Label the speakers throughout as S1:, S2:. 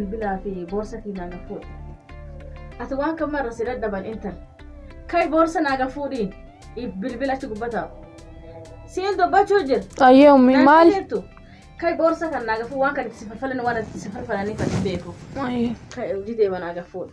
S1: bilbilaa fi boorsa kiyyaa na fuudhi. Ati waan kan marra si dadhaban intal. Kai boorsa naaga fuudhi. If bilbila achi gubba taa'u. Siin dubbachuu jira. Ayyee ummi Naan maal?
S2: dhageettu? Kai boorsa
S1: kan naaga fuudhi waan kan itti si falfalan waan itti si falfalaniif ati beeku. Ayyee. Kai
S2: hojii deema naaga
S1: fuudhi.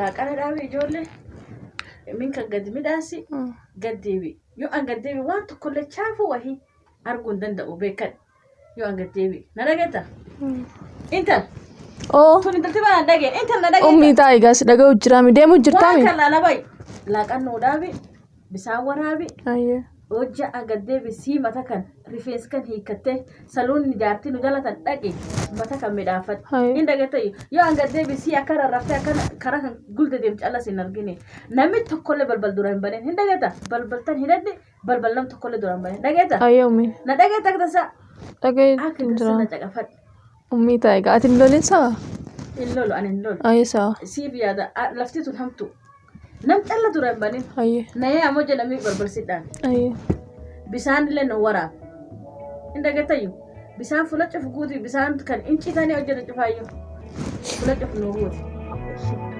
S1: Laaqana dhaabi ijoollee. Min kan gadi midhaasi. Gad deebi. Yoo an gad deebi waan tokkollee chaafuu wahii arguu hin danda'u beekan. Yoo an gad deebi. Na dhageetta? Intal. Oo.
S2: Tun intalti baa na dhageen.
S1: Intal na dhageetta. Ummii taa egaa si dhaga'u
S2: jiraami deemu jirtaami. Waan kan laalabai.
S1: Laaqan nuu dhaabi. bisaan waraabi Ayyee. hojja
S2: agad
S1: deebisii mata kan rifeensi kan hiikkattee saloonni jaartii nu jalatan dhaqi mata kan midhaafadhu Hayi. hin dagatayyu yoo agad deebisii akka rarraftee akka karaa kan gulda deemtu callas hin argine namni tokkollee balbal dura hin banin hin dagata balbaltan hin adde balbal nam tokkollee dura hin banin dagata Ayyee ummi. na dagata
S2: akka tasaa
S1: Dhaga'ee akka
S2: hin tasaa na jiraan.
S1: caqafadhu Ummii ta'a egaa
S2: ati hin lolin sa'a? Hin lolu ani hin
S1: lolu. Ayi sa'a. Siif
S2: yaada a-
S1: lafti tun hamtu. Nam calla dura hin banin. Ayi. Nayee ammoo
S2: jedhamii
S1: barbarsidhaan. Ayi.
S2: Bisaan
S1: illee nu waraab. Hin dhagettayyu. Bisaan fula cufu guuti bisaan kan hin citanii hojjetu cufaayyu. Fula cufu nu guuti.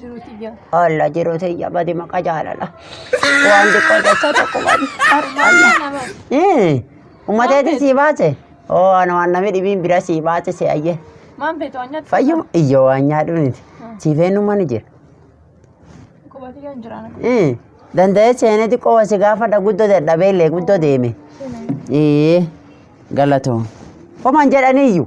S2: Jiruu tiyyaa. Alla jiruu
S3: tiyya badi maqa jaalala. Waan xiqqoo jecha tokko badi. Ummateeti sii baase. Oo ana waan namni dhibiin bira sii baase si ayyee. Maan feetu waan nyaatu.
S2: Fayyuma iyyo waan
S3: nyaadhu miti. Sii feenyummaa ni jira. Quba
S2: tiyyaa hin jiraan. Eh, Danda'ee
S3: seenee xiqqoo wasi gaafadha guddoo dadhabee illee guddoo deeme. Ee galatoom. Homaan jedhaniiyyu.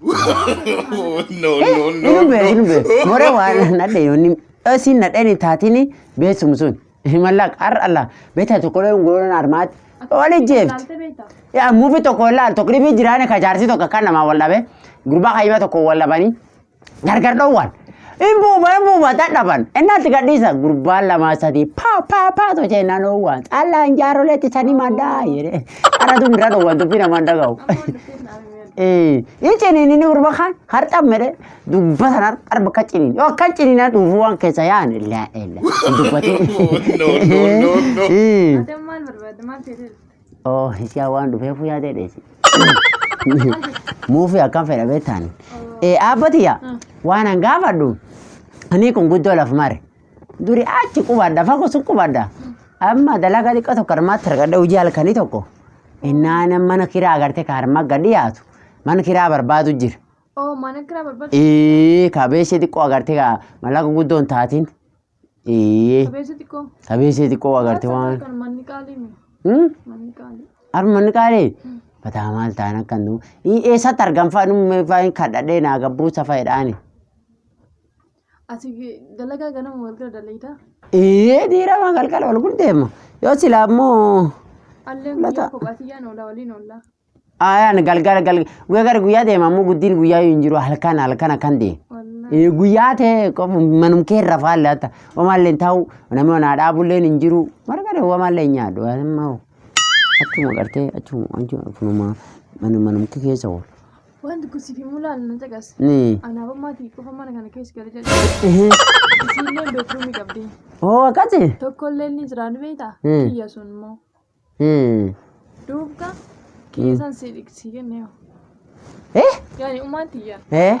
S4: no, no, no. Inum beeku,
S3: inum beeku. Mora waan nadhe yoonni dhasiin nadheen taatiin beeksum sun. Mallaq har Allah beektaa tokkolee ungoloon armaati. Wali jeefti. Yaa
S2: muufi tokko
S3: ilaal tokko dhibii jiraane ka jaarsi tokko kan namaa wal dhabe gurbaa kayyima tokko wal dhabanii gargar dhoowwan. Hin buufa hin buufa dadhaban innaatti gadhiisa gurbaan lamaa sadii paa paa paa too jee naan oowwaan caallaan jaaroleetti sanii maddaa jedhee. Qaratu mira dhoowwan dubbii namaan dhaga'u. Eh, Ni ciniinini urba kan harca mere dubba sanar arba ka ciniin. Yoo akka ciniina dhufu waan keessa yaan la ila. Dubbati. No, no, no, no. Eh. Adam maal barbaadda
S2: maal ta'e Oh, isiyaa
S3: waan dhufeefu yaadee dheesi. Muufi akkam fedha beektaan. Eh, abbatiya waan an gaafadhu. Ani kun guddoo laf mare. Duri achi qubadha fagoo sun qubadha. Amma dalagaa xiqqaa tokko harmaatti argadha hojii halkanii tokko. Innaan mana kiraa agartee ka harmaa gad dhiyaatu mana kiraa barbaadu jira. Oo mana kiraa
S2: barbaadu. Ee kabeeshee xiqqoo agartee
S3: ka mallaqa guddoon taatiin. Ee Qabeessa xiqqoo.
S2: kabeeshee xiqqoo agartee waan. Kan
S3: manni qaalii mi? Hmm?
S2: Manni
S3: qaalii. Harmanni qaalee bataa maal ta'an akka nu eessatti argamfaa nu fa'iin kadhadhee naa gabbuu safaadhaani.
S2: Ati dalagaa ganama galgala dalaydaa? Ee dirama
S3: galgala wal guddeema. Yoo silaa immoo Alleen Lata. guyyaa
S2: kophaatiyyaan oolaa waliin oollaa. ayaan galgala
S3: galgala guyyaa gara guyyaa deema ammoo guddiin guyyaa hin jiru halkan halkan akkan deema. Wallaahi. Ee, guyyaa ta'e qofa manum kee irra faalle hatta omaallee ta'u namni onaa dhaabullee hin jiru marga omaallee hin nyaadhu amma achuma gartee achuma achuma kunuma manum manum kee keessa oolu. Wanti kun siif himuu
S2: laalu na caqas. Ni. Anaaba maatii qofa mana kana keessa gala jedhu. Ehe. Isiillee beekruumii qabdi. Oo akkati.
S3: Tokkollee ni jira
S2: ni beektaa? Hmm. Kiyya sun immoo. Hmm. Duubka kiyya san si dhiqsii kennee. Eh. Yaani umaan tiyya. Eh.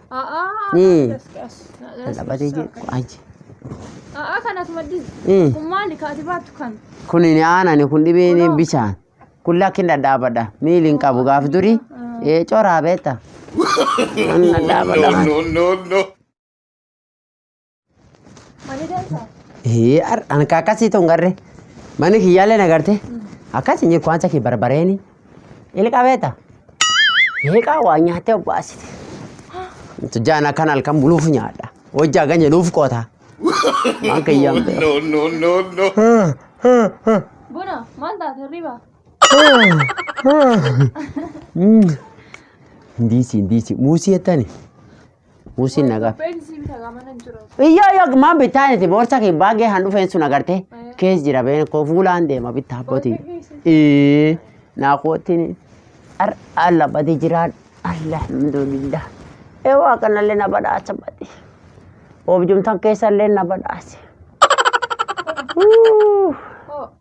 S3: A'aa Ee. as as as Taphatee as- jiru. Aji. A'aa kan as maddii Ee.
S2: kun maali kaati baattu kan Kun ni aanani
S3: kun dhibeen Kunoo. bishaan. Kun lakkin dhadhaabadha. Miili hin qabu gaaf durii. Ee coraa beekta. Kun dhadhaabadha. no,
S4: no, no.
S2: Mani dansaa. Hee ar- an ka akkasii tun
S3: garre mani kiyyaallee na garte akkas hin jiru waanta kee barbareeni ilqabeeta heeqaa waa nyaattee obbaasite tujjaan akkan halkan buluuf nyaadha hojii hagan jedhuuf qoota waan kiyyaan No, no, no, no.
S2: Buna maal taate hirriba?
S3: ndiisi ndiisi muusii jettani Buusiin nagaa. Beeksisi bita
S2: gaamana jira. Iyyoo yoo maan bittaa
S3: niti boorsa kee baagee han dhufeen sun agarte kees jira been koo fuulaan deema bittaa abbootii. Ee naa kootiin ar alla badi jiraan alhamdulillah. Ee waa kanallee na badhaasa badi. Oobjumtan keessallee na badhaase. Hoo.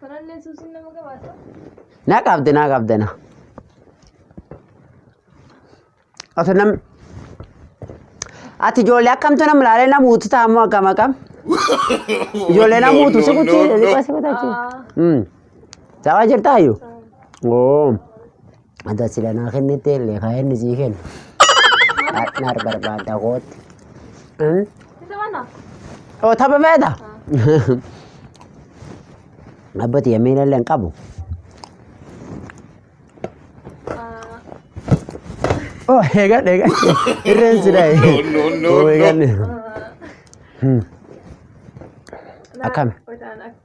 S2: Kanallee suusiin nama gabaasa. Na
S3: qabde na qabde na. Oto nam ati ijoollee akkamtu nam laalee nam uutu taamu akkam akkam. Ijoollee nam uutu si kutti si kutti achi. Aa, Dawaa jirtaa iyyuu? Oo. Ata sila naa kennite illee kaa inni sii kenna. Partner barbaadda kootti. Hmm? Isa
S2: mana? Oo tapha
S3: feeta? Abbati yemmii illee hin qabu. Oh, eegan eegan. Irreen sila. No, no, no, no. Eegan.
S4: Akkami? Hojaan
S3: akka.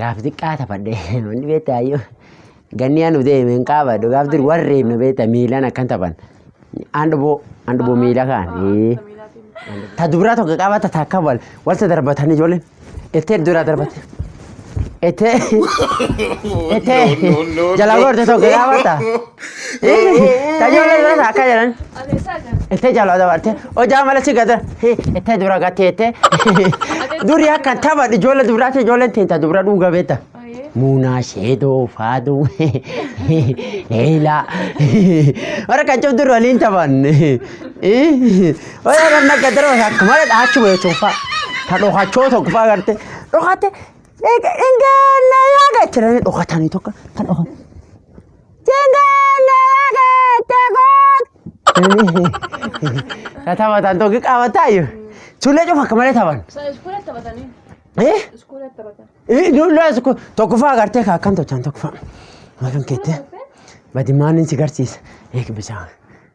S2: gaaf xiqqaa
S3: taphadhe wanni beektaa ayyoo ganni anu deeme hin qaabadhu gaaf dur warreen nu beekta miilan akkan taphan andhuboo andhuboo miila kaan ee. ta dubraa tokko qabata ta akka wal walta darbatan ijoolleen ettee duraa darbate ettee ettee jala goorte tokko qabata Tajaajila irraa akka jedhan. Itti jaalala dabarte. Hojaa mala si gada. Itti dura gateete. Duri akka tapha ijoollee duraati ijoolleen teenta dura dhuga beeta. Muunaa sheedoo faaduu leelaa warra kan cabdu waliin taphan. Warra kan akka darba akka mala dhaachu beetuun fa'a. Kan dhokachoo tokko fa'a garte. Dhokate. Ingaannaa yaa gachiranii dhokatanii tokko kan dhokatan. Na taphatan tokko qabataa iyyuu. Ijoollee cufa akka malee taphan.
S2: Eh? Eh, Ijoollee as kun
S3: tokkoffaa agartee kaa akkam tolchan tokkoffaa. Makan keettee. Badimaan inni si garsiisa. Eeg bishaan.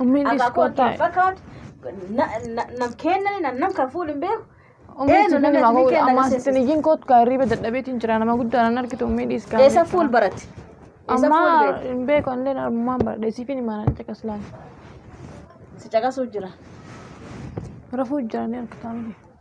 S2: Ummiin Akaa dhiskoo kootti hin taa'e. fakkaatu.
S1: Na- na- Nam kennani nam nam kan fuudhu hin beeku. Ummiin Eenyu sitti namni
S2: himaa atumii koo kenna ammaa agarsiisa. sitti iyyiin kootu kaa hirriiba dadhabeetiin jira nama guddaa nan argitu ummii dhiiskaa. Eessa fuul baratti? Eessa
S1: fuul Ammaa beektu?
S2: hin beeku anillee ammaan baradhe siifin himaa nan caqas laala.
S1: Si caqasuuf jira.
S2: Rafuu jira ni argitaa miti.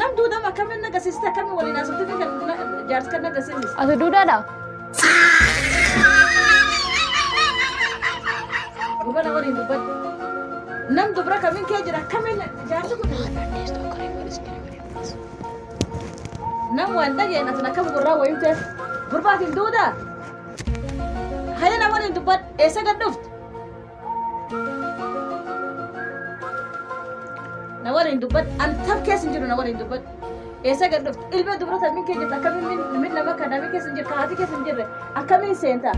S1: Nam duudama akkamiin agarsiiste akkamiin waliin haasofte fi kan jaarsi kan agarsiiste. Ati duudhaadha? Gubana waliin dubbadhu. Nam dubra kamiin kee jira akkamiin jaarsi kun. Nam waan dhageen asin akkam gurraa wayii ta'e gurbaatiin duudaa. Haya na waliin dubbadhu eessa gad dhufte? Na waliin dubbadhu an tab keessa hin jiru na waliin dubbadhu. Eessa gad dhufte? Ilma dubrota min kee jirta akkamiin min min nama kana min keessa hin jirre haati keessa hin jirre akkamiin seenta?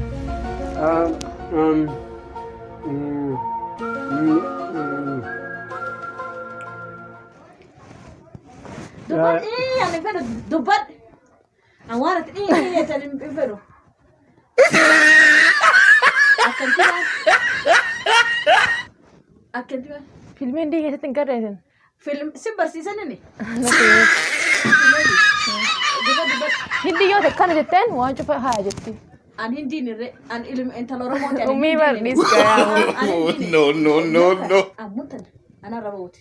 S1: Dubbadhu ii ani fedhu dubbadhu. Awwaarratti dhiirri eessan hin fedhu. Akkanti waan. Akkanti waan. Filmii hindii keessatti
S2: hin garreesin. Film si
S1: barsiisanini.
S2: Hindii yoo ta'e kana jetteen waan cufa haa jetti. An hindiin
S1: irree an ilma intala Oromoo ta'e. Ummii bardiis garaa.
S2: No, no,
S4: no, no. Ammutan
S1: anarra rooti.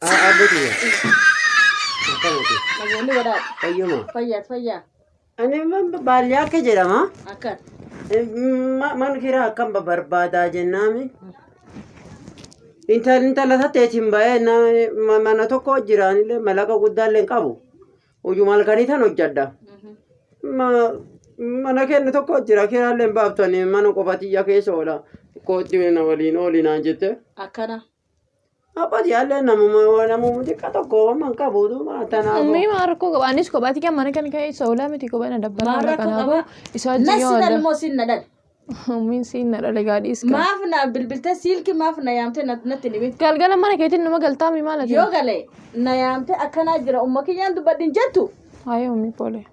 S3: Abbootii
S1: akkamitti? Namoonni godhaa Fayyuma. fayyaas
S3: fayyaa Ani baadiyyaa akka jedhama. akka Man kiraa akkam barbaadaa jennaami. Intal intala tateetiin baay'ee na- mana tokko jiraanillee malaqa guddaallee hin qabu. Hojii malkanii tan hojjedha. Ma- mana kennu tokko jira kiraallee hin baaftanii mana qofatiyya keessa oola. Kootti na waliin ooli naan jette. akkana
S1: Abbati
S3: yaallee namuma waa namuma xiqqaa tokko waan hin qabu duuba tanaaf. Ummii maa rakkoo qaba
S2: anis kophaati kan mana kan ka'e isa olaa miti kophaa na dabbala Maal rakkoo kanaafuu qaba? isa wajjin yoo Nassi wal dhalmoo siin na dhale.
S1: ummiin siin na
S2: dhale gaadhiis kan Maaf na bilbiltee
S1: siilki maaf na yaamtee na- natti hin himin. galgala mana keetiin numa
S2: galtaami maal ati Yoo gale
S1: na yaamtee akkanaa jira umma kiyyaan dubbadhin jettu. haayee ummii poolee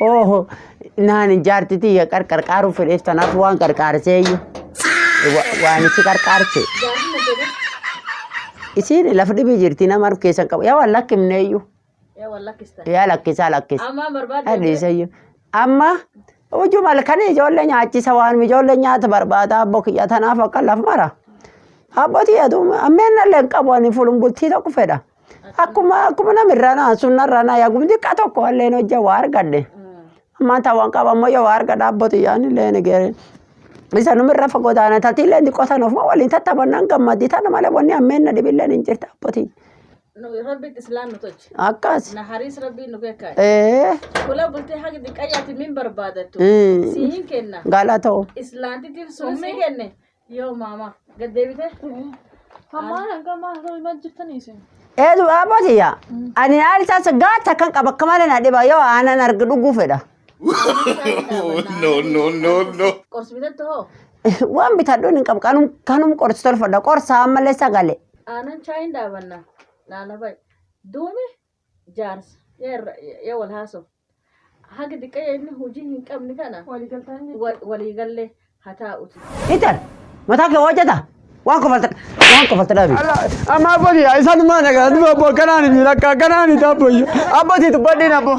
S3: Ooho naan jaartitii ya qarqarqaaruu fedheef tanaaf waan qarqaarseeyyu waan itti qarqaarse. Isiin lafa dhibii jirti nama harka keessan qabu yaa waan lakkifneeyyu yaa lakkisaa lakkisa. Adhiisayyu. Amma hojii malkan ijoollee nyaachisa waan ijoollee nyaata barbaada abboo kiyya tanaaf akka laf mara. Abbootii aduun ammeen nallee hin qabu ani fulun bultii tokko fedha. Akkuma akkuma nama irraa naa sunna irraa naa yaagum xiqqaa tokko illee hojja waa argadhe. Ammaan taa waan qaba ammoo yoo waa argadha abbootii yaa'an illee ni geere. Isa numa irra fagoo taana tatii illee xiqqoo sana ofuma waliin tattaphannaan gammaddii tana malee wanni ammeenna dhibillee ni jirti abbootii. Rabbi
S1: islaan nu tolche. Akkas. Na hariis
S3: rabbiin nu
S1: beekaadha. Ee. Kula bultee haga xiqqayyaatti min barbaadattu. Mm. Siin kenna. Galatoo.
S3: Islaantitiif sun
S1: si kenne. Yoo maama gad deebitee. Hammaan
S2: hanga maasoo himaa jirtanii isin. Eedu dhaabati
S3: yaa. Ani haali taasa gaata kan qaba akka malee na dhiba yoo aanan arga dhuguu fedha. no, no, no, no.
S4: Qorsi bitatte hoo?
S1: Waan bitadhuun
S3: hin qabu kanum kanum qorsi tolfadha qorsa ammallee sagale. Aanan chaayin
S1: dhaabanna. Laala ba'i. Duumi jaarsa ya irra ya wal haasof haga diqqaya inni hujii hin qabne kana walii galle ha taa'uti. Hitar
S3: mataa kee hojjeta waan kofalta waan kofalta dhabi. Amma abbootii
S5: isa dhumaa nagaa dhuma abboo akkanaan hin miidhakka akkanaan hin taabboyyu abbootii tubbadhiin abboo.